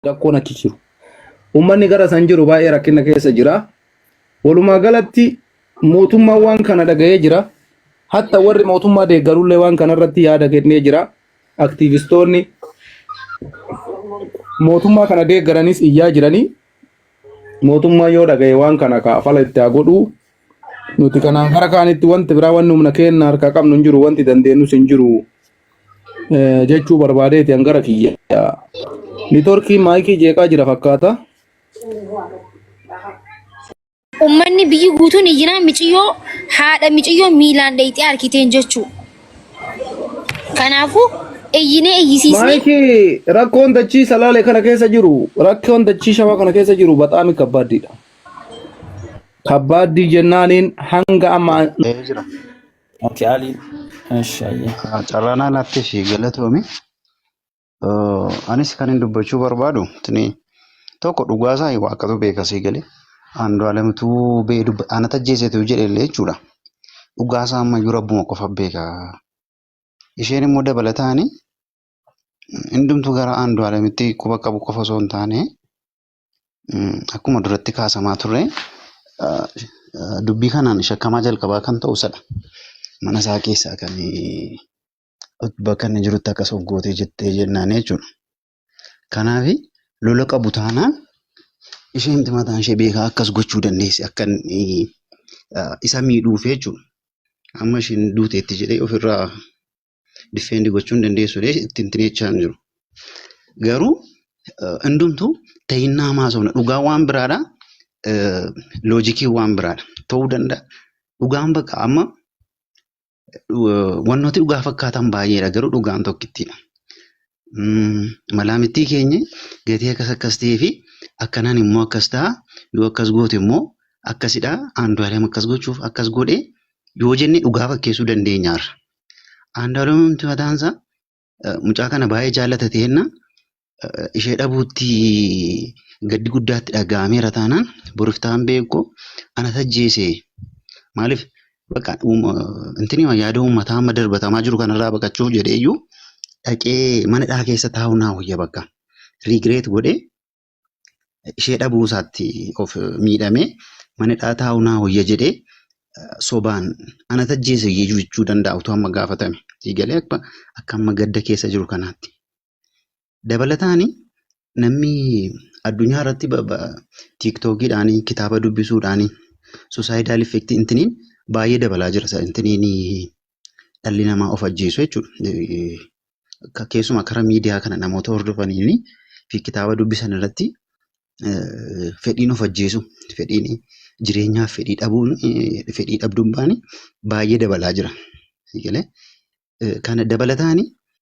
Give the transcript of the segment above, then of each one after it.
rakkoon achi jiru. Uummanni gara san jiru baay'ee rakkina keessa jira. Walumaa galatti mootummaan waan kana dhaga'ee jira. Hatta warri mootummaa deeggarullee waan kana irratti yaada kennee jira. Aktiivistoonni mootummaa kana deeggaranis iyyaa jiranii mootummaan yoo dhaga'e waan kana kaa fala itti haa godhuu. Nuti kanaan gara kaanitti wanti biraa wanni humna keenya harkaa qabnu hin jiru wanti dandeenyus hin jiru. Eh, jechuu barbaadeeti an gara kiyya nitorkii maayikii jeeqaa jira fakkaata Ummanni biyyi guutuun iyyinaa miciyyoo haadha miciyyoo miilaan dheeyxee harkiteen jechuu. Kanaafuu iyyinee iyyisiisnee maayikii rakkoon dachii salaale kana keessa jiru rakkoon dachii shawaa kana keessa jiru baxaami kabbaaddiidha kabbaaddii jennaaniin hanga amma Ee jira. Ati Aliin. Eshi ayyee. Carraanaa laatteef galatoomi. Eh, Anis kan hin dubbachuu barbaadu tini tokko dhugaasaa hin waaqatu beeka sii galee. Andu'aalamituu bee dubba ana tajjeesetu jedhe illee jechuudha. Dhugaasaa ammayyuu rabbuma qofa beeka. Isheen immoo dabalataani hundumtuu gara Andu'aalamitti quba qabu qofa osoo hin taane akkuma duratti kaasamaa turre dubbii kanaan shakkamaa jalqabaa kan ta'u isadha. Mana isaa keessaa kan bakka inni jirutti akkas of gootee jettee jennaan jechuudha. Kanaaf lola qabu taanaan isheen mataan ishee beekaa akkas gochuu dandeessi akka isa miidhuuf jechuudha. Amma isheen duuteetti jedhee ofirraa difeendi gochuun dandeessu dee itti hin tineechaa hin jiru. Garuu hundumtuu ta'innaa maasofna dhugaa waan biraadha loojikii waan biraadha ta'uu danda'a. Dhugaan bakka amma wantooti dhugaa fakkaatan baay'eedha garuu dhugaan tokkittiidha. Malaamittii keenya gatii akkas akkas ta'ee fi akkanaan immoo akkas ta'a yoo akkas goote immoo akkasidha aandu'aalem akkas gochuuf akkas godhe yoo jenne dhugaa fakkeessuu dandeenyaarra. Andaaloomti mataansaa mucaa kana baay'ee jaallata ta'eenna ishee dhabuutti gaddi guddaatti dhaga'ameera taanaan boriftaan beekoo ana tajjeese maaliif bakka intini yaada uummataa amma darbatamaa jiru kanarraa baqachuuf jedheeyyuu dhaqee mana dhaa keessa taa'u naa wayya bakka rigireet godhee ishee dhabuu isaatti of miidhamee mana hidhaa taa'u naa hoyya jedhee sobaan ana tajjeese jechuu danda'a utuu amma gaafatame. Siigalee akka akka amma gadda keessa jiru kanaatti. Dabalataani namni addunyaa irratti tiiktookiidhaan kitaaba dubbisuudhaan suusaayidaal effektii intiniin baay'ee dabalaa jira intiniin dhalli namaa of ajjeesu jechuudha. Keessumaa karaa miidiyaa kana namoota hordofanii fi kitaaba dubbisan irratti fedhiin of ajjeesu fedhiin jireenyaaf fedhii dhabuun fedhii dhabdummaan baay'ee dabalaa jira. Kana dabalataani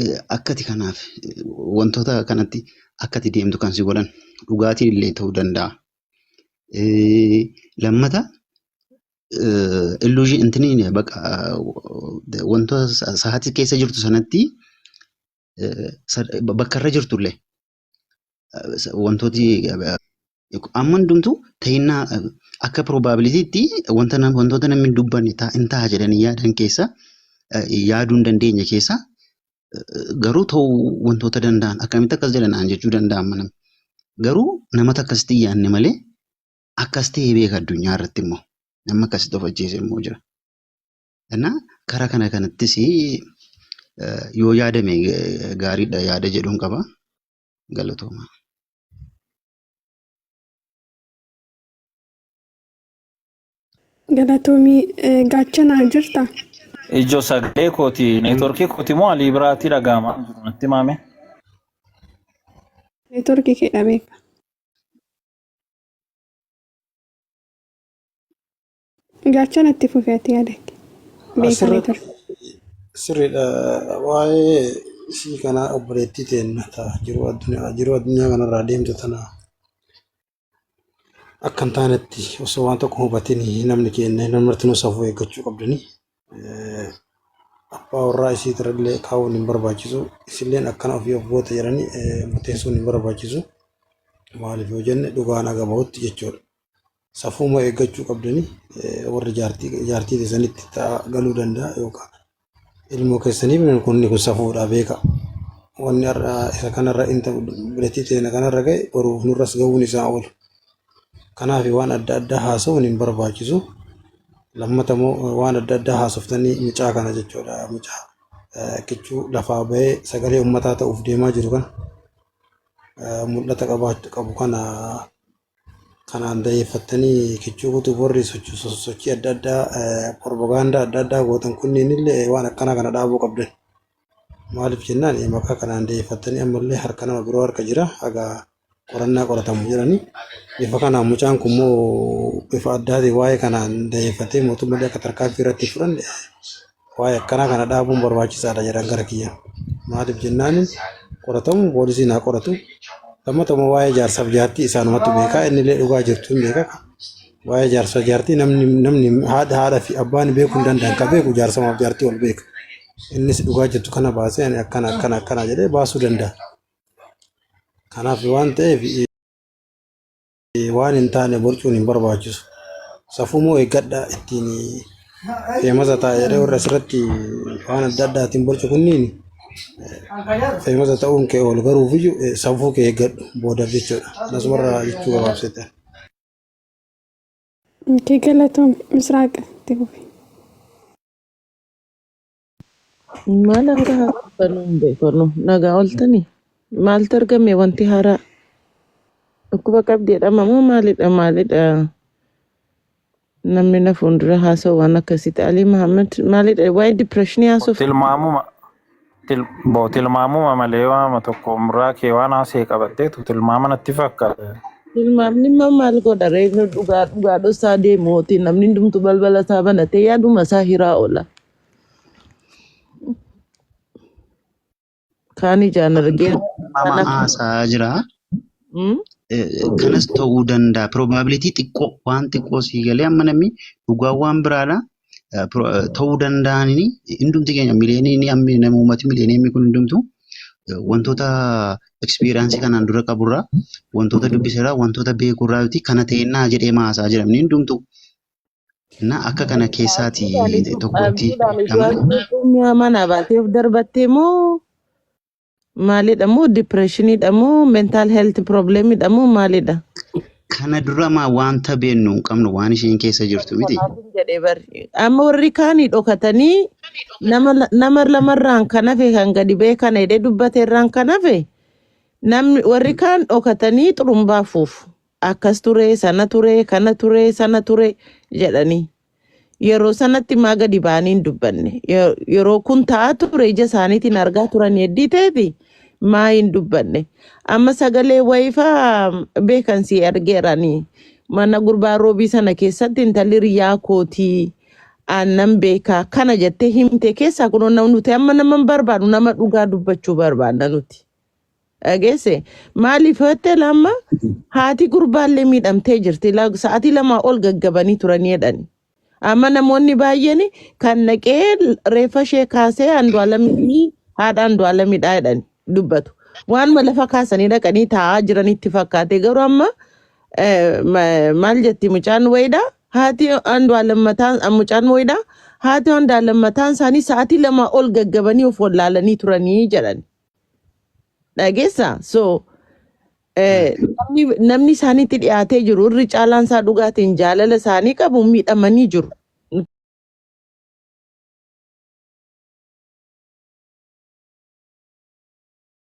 eh, akkati kanaaf eh, wantoota kanatti akkati deemtu kan si godhan dhugaatiin illee ta'uu danda'a. Eh, Lammata illuuzii intiniin baqa eh, wantoota sa- sa'aatii keessa jirtu sanatti eh, sa- bakka irra jirtu illee wantooti amma hundumtuu ta'innaa akka piroobaabilitiitti wanta nam- wantoota namni hin dubbanne ta'a- hin ta'a jedhanii yaadan keessa yaaduu hin dandeenye keessa garuu ta'uu wantoota danda'an akkamitti akkas jedhanaan jechuu danda'an mana garuu namata akkasitti hin yaadne malee akkas ta'ee beeka addunyaa irratti immoo namni akkasitti of ajjeese immoo jira. Kana kara kana kanattis yoo yaadame gaariidha yaada jedhuun qaba. Galatooma. Galatoomii gaachanaa jirta. Ijoo sagalee kooti neetworkii kooti moo alii biraatii dhaga'amaa hin jiru natti maame. Neetworkii kee dhabeeka. Gaachana itti fufi ati yaada kee. Beekanii Asirratti ture. sirriidha waa'ee isii kanaa obboleettii teenna ta'a jiruu addunyaa jiruu addunyaa kanarraa deemtu tana akka hin taanetti osoo waan tokko hubatin namni keenya namni martinuu safuu eeggachuu qabdanii Eh, abbaa warraa isii irrallee kaa'uun hin barbaachisu isilleen akkana ofii of goota jedhanii eh, murteessuun hin barbaachisu maaliif yoo jenne dhugaan aga bahutti jechuudha. safuuma eeggachuu qabdani warri jaartii jaartii keessanitti ta'a galuu danda'a yookaan ilmoo keessaniif kunni kun safuudha beeka. Wanni har'a isa kanarra inta bilatii teena kanarra ga'e boruuf nurras ga'uun isaa oolu. Kanaaf waan adda addaa haasa'uun hin barbaachisu. Lammata immoo waan adda addaa haasoftanii mucaa kana jechuudha mucaa kichuu lafaa ba'ee sagalee ummataa ta'uuf deemaa jiru kana mul'ata qabaachuu qabu kana Kanaan dayeeffattanii kichuu kutuuf warri sochii adda addaa propagaandaa adda addaa gootan kunniin illee waan akkanaa kana dhaabuu qabdan. Maaliif jennaan maqaa kanaan dayeeffattanii ammallee harka nama biroo harka jira hagaa qorannaa qoratamu jedhanii bifa kanaan mucaan kun immoo bifa addaatiin waa'ee kanaan dayeeffatee mootummallee akka tarkaanfii irratti fudhanne waa'ee akkanaa kana dhaabuun barbaachisaadha jedhan gara kiyya. Maaliif jennaan qoratamu poolisiin haa qoratu. Lammata immoo waa'ee jaarsaaf jaartii isaanumatu beeka. Inni illee dhugaa jirtu hin beeka. Waa'ee jaarsaaf jaartii namni namni haadha haadha fi abbaan beeku hin danda'an ka beeku jaarsamaaf jaartii ol beeka. Innis dhugaa jirtu kana baasee ani akkana akkana akkana jedhee baasuu danda'a. Kanaaf waan ta'eef Waan hin taane borcuun hin barbaachisu. Safuu moo eeggadha ittiin feemasa taa'eeree warra asirratti waan adda addaatiin borcu kunniin feemasa ta'uun kee ol garuuf iyyuu eh, safuu kee eeggadhu boodaaf jechuudha. Anas warra jechuu gabaabsite. Kee galatoom misraaqa itti fufi. Maal akka haasoftanuu hin beeknu. Nagaa ooltanii? Maaltu argame wanti haaraa? Dhukkuba qabdi jedhama moo maalidha maalidha? Namni na fuuldura haasa'u waan akkasitti. Alii Mahammad maalidha? Waa'ee dipireeshinii haasoftu. Tilmaamuma til, bo tilmaamuma malee waama tokko umraa kee waan haasee qabatteetu tilmaama natti fakkaata. Tilmaamni immoo maal godha ree? Nu dhugaa dhugaa dhossaa deemuuti. Namni hundumtu balbala isaa banatee yaaduma isaa hiraa oola. Kaan ijaan argee Mama kana haasaa jira. Mm? Eh, Kanas ta'uu danda'a. Probability xiqqoo waan xiqqoo sii galee amma namni dhugaa waan biraadha. Eh, pro- eh, Ta'uu danda'anii hundumti keenya miliyoonii ni ammi nama uummati miliyoonii ammi kun hundumtu eh, wantoota ekspiriyaansii kanaan dura qaburraa wantoota dubbiserraa wantoota beekurraa yoo ta'e kana ta'ennaa jedhee maasaa jedhamni hundumtu Na akka kana keessaati Abdii maaliif cuf tokko itti abdii maaliif hidhaman. du'aas beekuu mi'a mana baatee of darbattee moo maalidha moo dipireeshiniidha moo mentaal heelti piroobileemidha moo maalidha? Kana dura maa wanta beennu hin qabnu waan isheen keessa Isa jirtu miti. kanaaf hin jedhee barri. Amma warri kaanii dhokatanii nama la- nama lamarraan kan hafe kan gadi ba'e kana jedhee dubbate irraan kan hafe namni warri kaan dhokatanii xurumbaa fuufu. Akkas ture, sana ture, kana ture, sana ture jedhanii. Yeroo sanatti maa gadi ba'anii hin dubbanne. Ye- Yeroo kun ta'aa ture ija isaaniitiin argaa turan yeddii ta'eeti maa hin dubbanne. Amma sagalee wayifaa beekan si argeeranii. Mana gurbaa roobii sana keessatti intalli riyyaa kootii aannan beekaa kana jettee himte keessaa kunoo nam- nuti amma nama hin barbaadu nama dhugaa dubbachuu barbaadna nuti. Dhageesse maaliif hottee lamma haati gurbaallee miidhamtee jirti La- sa'aatii lamaa ol gaggabanii turanii jedhani. Amma namoonni baay'een kan naqee reeffa ishee kaasee andu'aalamii haadha andu'aalamidhaa jedhani dubbatu. Waanuma lafa kaasanii dhaqanii taa'aa jiranitti fakkaate garuu amma eh, ma- maal jetti mucaan wayiidhaa haati andu'aalam mataan ah, mucaan wayiidhaa haati andu'aalam mataan isaanii sa'aatii lamaa ol gaggabanii of wallaalanii turanii jedhani. Dhageessa so eh, namni namni isaanitti dhiyaatee jiru irri caalaan isaa dhugaatiin jaalala isaanii qabu miidhamanii jiru.